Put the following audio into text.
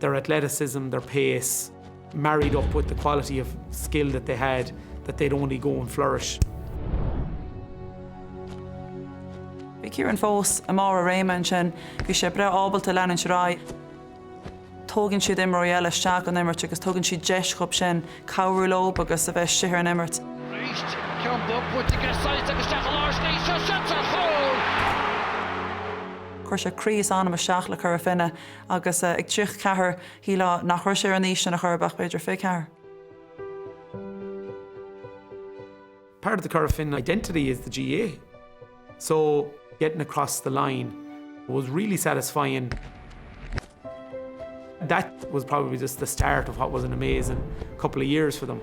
their athleticism, their pace married up with the quality of skill that they had that they'd only go and flourish. Bhí Kieran fós i mbarr a réime ansin. Bhí sé breá ábalta leanúint ar aghaidh. Tógann siad imreoirí eile isteach don imirt agus tugann siad deis dóibh sin cabhrú leo agus a bheith istigh ar an imirt. Arís, ceann beag buaite ag Staunton agus isteach i lár is léi seo, seans ar chúl! Chuir sé croí is anam isteach le Cora Finne. agus ag triocha ceathair, shíleá nach raibh sé ar an aois sin a chor ar bith, ach b'fhéidir fiche ceathair. Part of the Curragh Finn identity is the GAA, so getting across the line was really satisfying. That was probably just the start of what was an amazing couple of years for them.